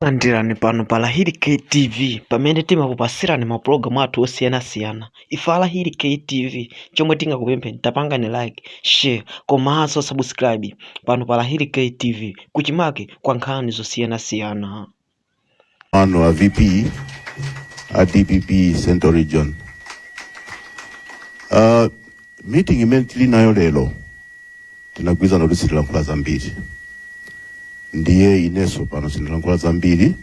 Landirani pano pa Lahiri KTV pamene timakupasirani mapulogalamu athu osiyanasiyana. Ife a Lahiri KTV chomwe tingakupempheni pangani like, share komanso subscribe pano pa Lahiri KTV kuchimake kwa nkhani zosiyanasiyana. Mano a VP a DPP Central Region. Uh, Meeting imene tili nayo lero tinagwirizana kuti sitilankhula zambiri, ndiye inenso pano sindilankhula zambiri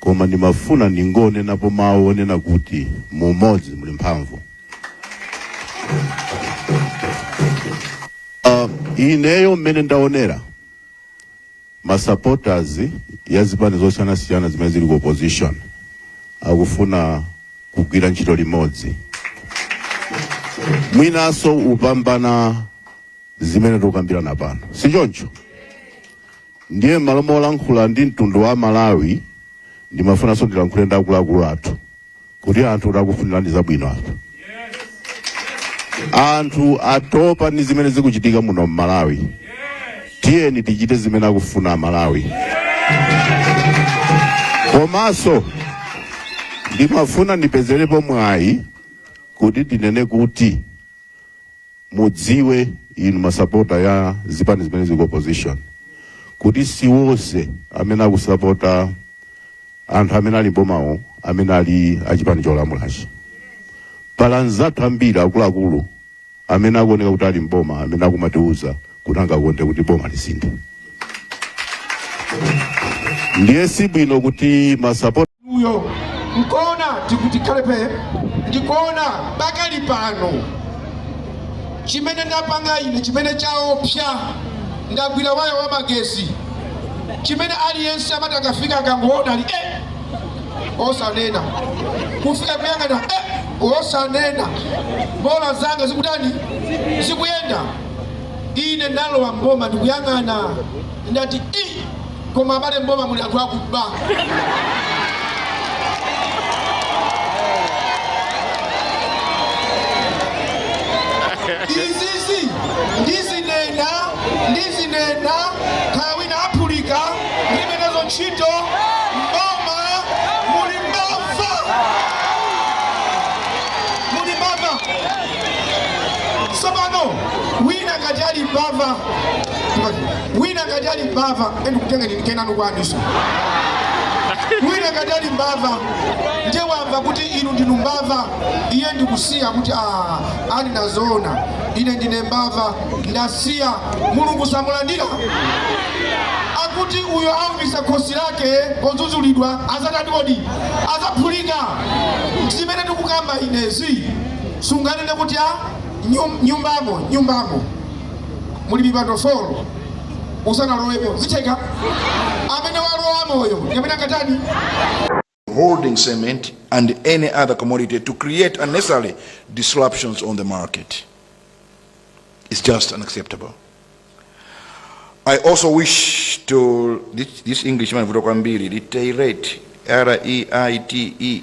koma ndimafuna ndingonenapo mawu onena kuti mu umodzi muli mphamvu. Uh, ineyo mmene ndaonera Ma supporters ya zipani zosiyana siyana zimene zili ku opposition akufuna kugwira ntchito limodzi mwinanso kupambana zimene tikukambirana pano si choncho ndiye m'malo molankhula ndi mtundu wa malawi ndimafunanso ndilankhule ndi akuluakulu athu kuti anthu takufunirani zabwino apa anthu atopa ndi zimene zikuchitika muno mmalawi tiyeni tichite zimene akufuna amalawi komanso ndimafuna ndipezerepo mwayi kuti tinene kuti mudziwe inu masapota ya zipani zimene zili ku opposition kuti si wonse amene akusapota anthu amene ali m'bomawo amene ali achipani cholamulachi pali anzathu ambiri akuluakulu amene akuoneka kuti ali mboma amene akumatiuza kuti angakonde kuti boma lisinthe ndiye si bwino kuti masapota uyo nkuona tikuti khalape ndikuona pakali pano chimene ndapanga ine chimene chaopsa ndagwira waya wa magesi chimene aliyense amati akafika akangoona ali eh, osanena kufika kuyang'ana eh, osanena bola zanga zikutani zikuyenda ine ndalowa mboma ndikuyang'ana ndati i koma abale mboma muli anthu akuba izizi ndizinena ndizinena kaya wina aphulika ndilibe nazo ntchito mboma muli mbava muli mbava tsopano wina ngati ali mbava Chimati, wina ngati ali mbava endikutenga ndi kenanu kwaniso wina ngati ali mbava ndiye wamva kuti inu ndinu mbava iye ndikusiya kuti "Ah, ali nazo zoona ine ndine mbava ndasiya mulungu samulandira akuti uyo oumitsa khosi lake podzudzulidwa adzatani kodi adzaphulika zimene ndikukamba inezi sunganene kuti a nyum- nyumbamo nyumbamo muli mipando folo usanalowepo zitheka amene walowamoyo amene akatani holding cement and any other commodity to create unnecessary disruptions on the market. It's just unacceptable. I also wish to, this, this Englishman, Vutokwambiri, reiterate, R-E-I-T-E,